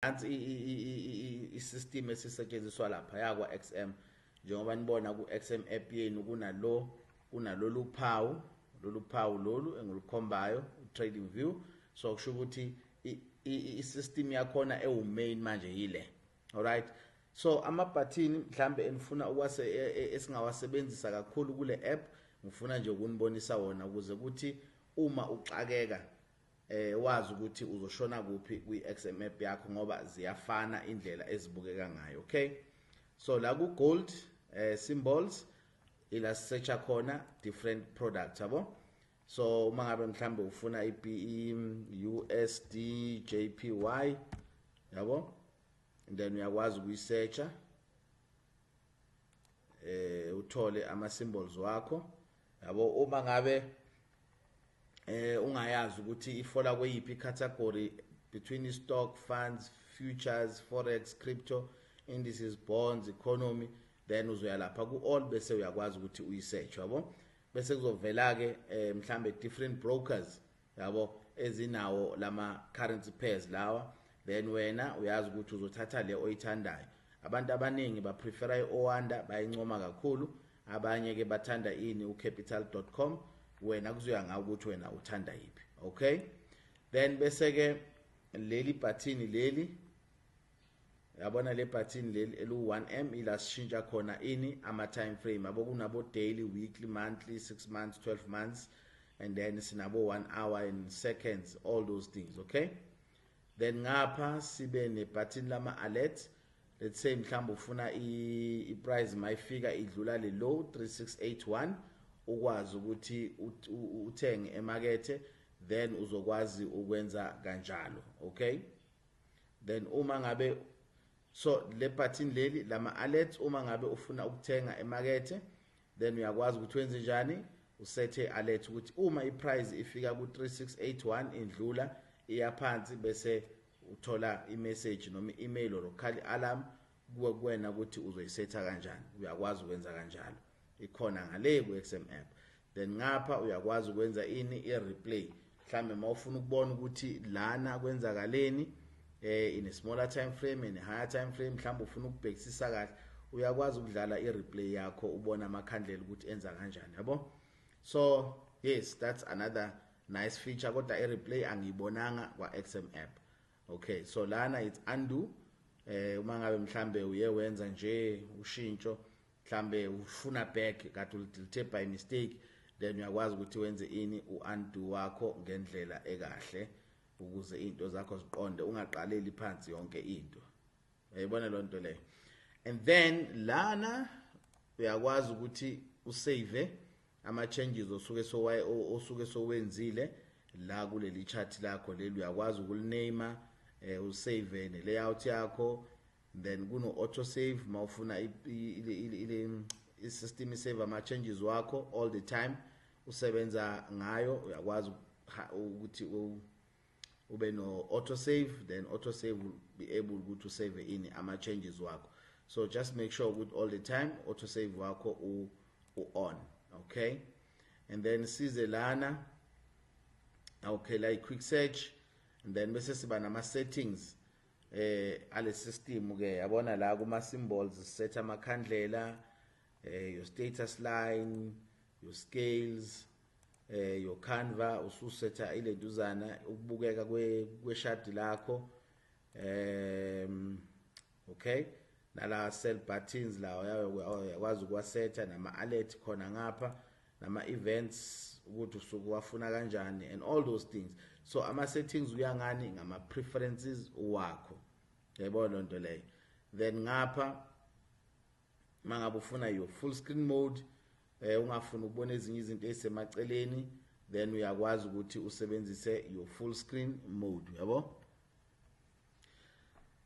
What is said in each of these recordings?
nansi i-system esisetshenziswa lapha yakwa-xm njengoba nibona ku-xm app yenu kunalo kunalolu phawu lolu phawu lolu engilikhombayo trading view so kusho ukuthi i-system yakhona ewu-main manje yile alright so amabhathini mhlambe enifuna ukwase e, e, esingawasebenzisa kakhulu kule app ngifuna nje ukunibonisa wona ukuze kuthi uma uxakeka eh wazi ukuthi uzoshona kuphi kwi-XMAP yakho ngoba ziyafana indlela ezibukeka ngayo okay so la ku gold eh symbols ila search khona different products yabo so uma ngabe mhlambe ufuna iBE USD JPY yabo and then uyakwazi ukuyisearcha eh uthole ama symbols wakho yabo uma ngabe eh ungayazi ukuthi ifola kweyiphi category between stock funds futures forex crypto indices bonds economy then uzoya lapha ku all bese uyakwazi ukuthi uyisearch yabo bese kuzovela ke eh, mhlambe different brokers yabo ezinawo lama currency pairs lawa then wena uyazi ukuthi uzothatha le oyithandayo abantu abaningi ba prefer i Oanda bayincoma kakhulu abanye ke bathanda ini ucapital.com wena kuzoya ngawe ukuthi wena uthanda yiphi okay then bese ke leli button leli yabona le button leli elu1m ila sishintsha khona ini ama time frame abo kunabo daily weekly monthly 6 months 12 months and then sinabo 1 hour and seconds all those things okay then ngapha sibe nebhathini lama alert let's say mhlawumbe ufuna i price mayifika idlula le low 3681 ukwazi ukuthi uthenge emakethe then uzokwazi ukwenza kanjalo okay then uma ngabe so le button leli lama alerts uma ngabe ufuna ukuthenga emakethe Then uyakwazi ukuthi wenze njani? Usethe alert ukuthi uma iprice ifika ku 3681 indlula iyaphansi bese uthola imessage noma i-email or ukhali alarm kuwe kuwena ukuthi uzoyisetha kanjani uyakwazi ukwenza kanjalo ikhona ngale ku-XM app then ngapha uyakwazi ukwenza ini i-replay mhlambe mawufuna ukubona ukuthi lana kwenzakaleni eh in a smaller time frame and a higher time frame mhlawumbe ufuna ukubhekisisa kahle uyakwazi ukudlala i-replay yakho ubona amakhandlela ukuthi enza kanjani yabo so yes that's another nice feature kodwa i-replay angiyibonanga kwa-xm app okay so lana it's undo eh uma ngabe mhlambe uye wenza nje ushintsho mhlambe ufuna back kade ulithe by mistake then uyakwazi ukuthi wenze ini u-undo wakho ngendlela ekahle ukuze into zakho ziqonde ungaqaleli phansi yonke into uyayibona loo nto leyo and then lana uyakwazi ukuthi usave ama-changes osuke sowaye osuke sowenzile la kuleli chart lakho leli uyakwazi ukuliname eh usave ne layout yakho then kuno auto save mawufuna isystem isave ama changes wakho all the time usebenza ngayo uyakwazi ukuthi ube no auto save then auto save will be able ukuthi usave ini ama changes wakho so just make sure ukuthi all the time auto save wakho u, u on okay and then size lana okay like quick search and then bese siba nama settings eh ale system ke yabona la kuma symbols set amakhandlela eh your status line your scales eh your canva ususetha ilentuzana ukubukeka kwe kweshadi lakho um okay nala cell buttons lawo yakwazi ukuwasetha nama alert khona ngapha nama events ukuthi usuke wafuna kanjani and all those things so ama settings kuya ngani ngama preferences wakho yayibona lonto leyo then ngapha mangabe ufuna your full screen mode eh ungafuna ukubona ezinye izinto ezisemaceleni then uyakwazi ukuthi usebenzise your full screen mode yabo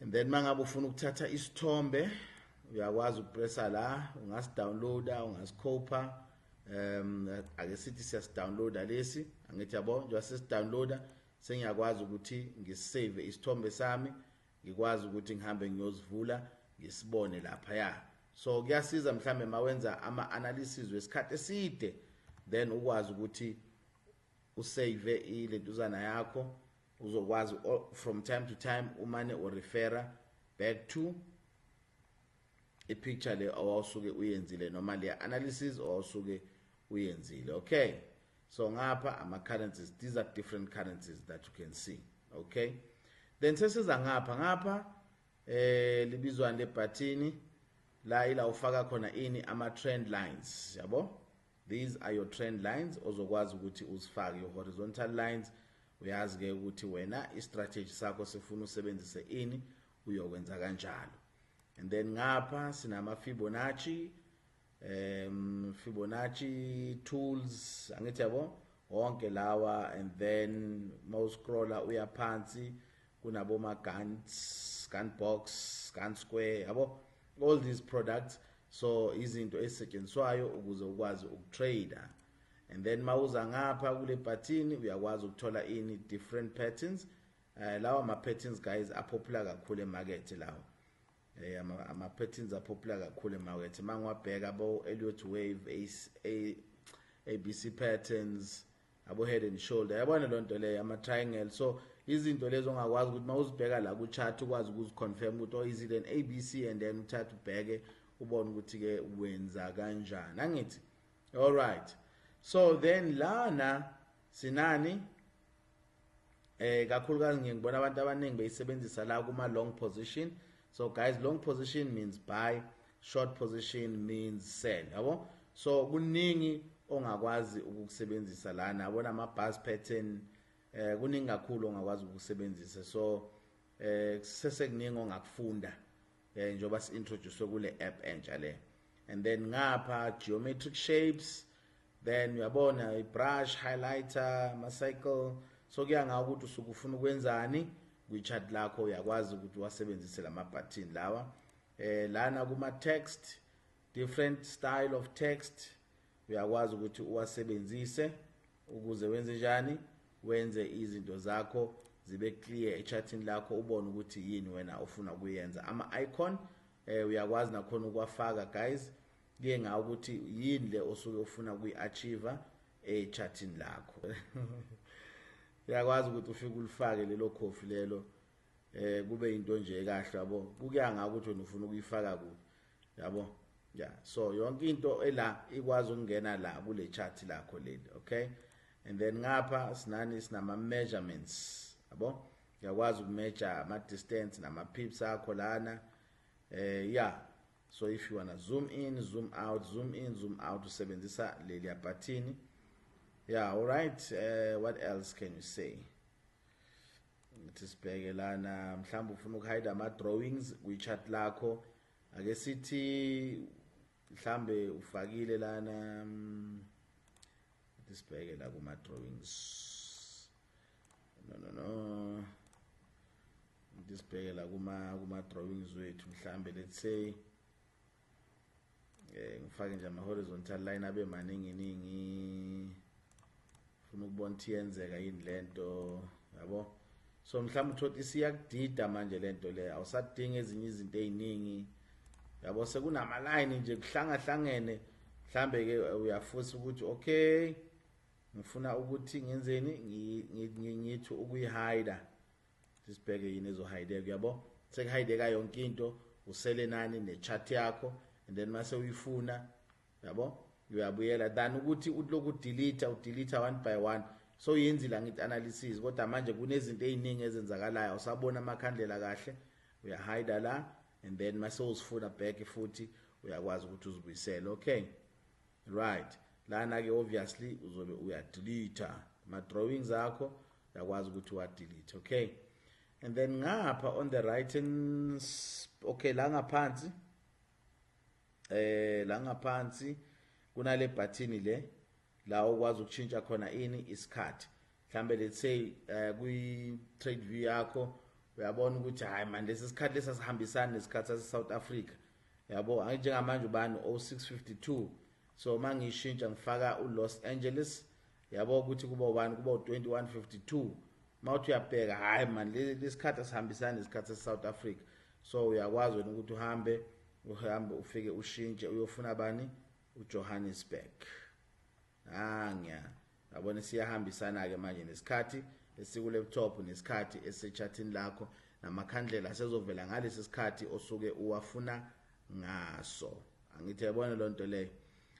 and then mangabe ufuna ukuthatha isithombe uyakwazi ukupressa la ungasidownloada ungasikhopha um ake sithi siyasidownloada lesi angithi yabo njengoba sesidownloada sengiyakwazi ukuthi ngisave isithombe sami ngikwazi ukuthi ngihambe ngiyozivula ngisibone lapha ya so kuyasiza mhlambe mawenza ama analysis wesikhathi eside then ukwazi ukuthi usave ilentuzana yakho uzokwazi from time to time umane urefera back to ipicture le owawusuke uyenzile noma le analysis owawusuke uyenzile okay so ngapha ama currencies these are different currencies that you can see okay then sesiza ngapha ngapha eh libizwani lebhathini la ila ufaka khona ini ama trend lines yabo These are your trend lines ozokwazi ukuthi uzifake your horizontal lines uyazi ke ukuthi wena istrategy sakho sifuna usebenzise ini uyokwenza kanjalo and then ngapha sinama Fibonacci um Fibonacci tools angithi yabo wonke lawa and then mawuscrolla uyaphansi kunaboma guns gun box gun square yabo all these products so izinto ezisetshenziswayo ukuze ukwazi ukutrader and then mawuza ngapha kule bhathini uyakwazi ukuthola ini different patterns uh, lawa ma-patterns guys apopular kakhulu emakethe lawa um eh, ama-patterns apopular kakhulu emakethe uma ngiwabheka bo-eliot wave abc patterns abo head and shoulder yabona loo nto leyo ama-triangle so izinto lezo ongakwazi ukuthi uma uzibheka la ku-chat ukwazi ukuziconfirm ukuthi oh is it an a b c and then uthathe ubheke ubone ukuthi-ke wenza kanjani angithi all right so then lana sinani eh kakhulukazi ngiye ngibona abantu abaningi beyisebenzisa la kuma long position so guys long position means buy short position means sell yabo so kuningi ongakwazi ukukusebenzisa lana yabona ama bus pattern eh kuningi kakhulu ongakwazi ukusebenzisa so eh sesekuningi ongakufunda eh njoba si introduce kule app entsha le and then ngapha geometric shapes then uyabona i brush highlighter ma cycle so kuya ngawo ukuthi usuku ufuna ukwenzani kwi chart lakho uyakwazi ukuthi wasebenzise lama button lawa eh lana kuma text different style of text uyakwazi ukuthi uwasebenzise ukuze wenze njani wenze izinto zakho zibe clear echatini lakho ubone ukuthi yini wena ofuna ukuyenza ama-icon eh uyakwazi nakhona ukwafaka guys kuye ngawo ukuthi yini le osuke ufuna kuyi-achieve echatini lakho uyakwazi ukuthi ufike ulifake lelo khofi lelo eh kube into nje kahle yabo kukuya ngako ukuthi wena ufuna ukuyifaka kuphi yabo ya so yonke into ela ikwazi ukungena la kule chart lakho leli okay and then ngapha sinani sinama measurements yabo uyakwazi ukumeasure ama distance nama pips akho lana eh yeah so if you wanna zoom in zoom out zoom in zoom out usebenzisa leli button yeah all right uh, what else can you say ngithi sibheke lana mhlawumbe ufuna ukuhide ama-drawings kwi-chat lakho ake sithi mhlawumbe ufakile lana mm, ngithi sibheke la kuma-drawings no no no ngithi sibheke la kuma-drawings wethu mhlawumbe let's say eh ngifake nje ama horizontal line abe maningi ningi ufuna ukubona ukuthi yenzeka yini lento yabo so mhlawumbe uthola isiyakudida manje lento le awusadinga ezinye izinto eziningi yabo sekunama line nje kuhlangahlangene mhlambe ke uyafusa ukuthi okay ngifuna ukuthi ngenzeni ngithi ukuyihide sisibheke yini ezohideka uyabo sekuhideka yonke into usele nani nechart yakho and then mase uyifuna yabo uyabuyela than ukuthi uloku delete udelete one by one so yenzile ngithi analysis kodwa manje kunezinto eziningi ezenzakalayo usabona amakhandlela kahle uyahida la and then mase uzifuna back futhi uyakwazi ukuthi uzibuyisele okay right lana ke obviously uzobe uya delete ama drawings akho yakwazi ukuthi wa delete okay and then ngapha on the right hand okay la ngaphansi eh la ngaphansi kunale button le la ukwazi ukuchinja khona ini isikhathi mhlambe let's say eh, kwi trade view yakho uyabona ukuthi hayi manje lesi sikhathi lesasihambisana nesikhathi sase South Africa yabo anjengamanje ubani 0652 so mangishintsha ngifaka uLos Angeles yabo ukuthi kuba ubani kuba u-2152 uma uthi uyabheka hhayi mani lesikhathi asihambisani nesikhathi sesouth africa so uyakwazi wena ukuthi uhambe uhambe ufike ushintshe uyofuna bani ujohannesburg angiya yabona siyahambisana-ke manje nesikhathi esikulaptop nesikhathi esisetshathini lakho namakhandlela asezovela ngalesi sikhathi osuke uwafuna ngaso angithi yabona loo nto leyo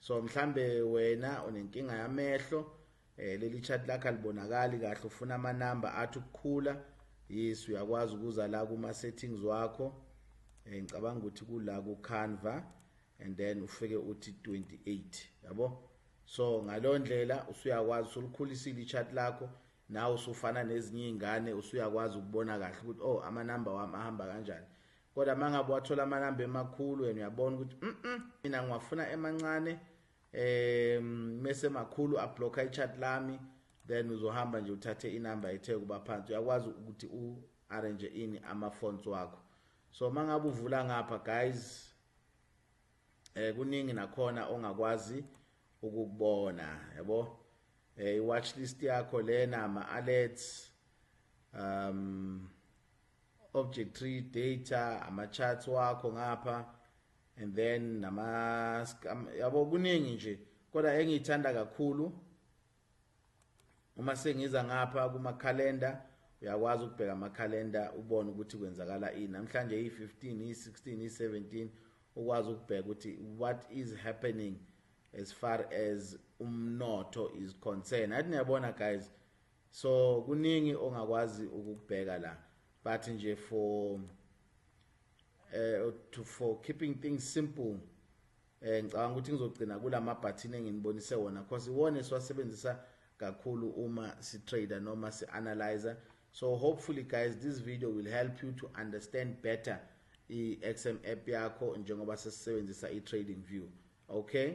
so mhlambe wena unenkinga yamehlo eh leli chat lakhe libonakali kahle ufuna ama number athi ukukhula yes uyakwazi ukuza la kuma settings wakho eh ngicabanga ukuthi kula ku Canva and then ufike uthi 28 yabo so ngalondlela usuyakwazi usulikhulisile ichat lakho nawe usufana nezinye izingane usuyakwazi ukubona kahle ukuthi oh ama number wami ahamba kanjani Kodwa mangabe wathola amanamba emakhulu wena uyabona ukuthi mhm mina ngiwafuna emancane eh mese makhulu a block i chat lami then uzohamba nje uthathe inamba ethe kuba phansi uyakwazi ukuthi u arrange ini ama fonts wakho so mangabe uvula ngapha guys eh kuningi nakhona ongakwazi ukukubona yabo eh watch list yakho lena ama alerts um object tree data ama charts wakho ngapha and then nama yabo kuningi nje kodwa engiyithanda kakhulu uma sengiza ngapha kuma calendar uyakwazi ukubheka ama calendar ubone ukuthi kwenzakala ini namhlanje i15 i16 i17 ukwazi ukubheka ukuthi what is happening as far as umnotho is concerned athi niyabona guys so kuningi ongakwazi ukubheka la but nje for eh to for keeping things simple eh ngicabanga ukuthi ngizogcina kulama button enginibonise wona because iwona esiwasebenzisa kakhulu uma si trader noma si analyzer so hopefully guys this video will help you to understand better i XM app yakho njengoba sesisebenzisa i trading view okay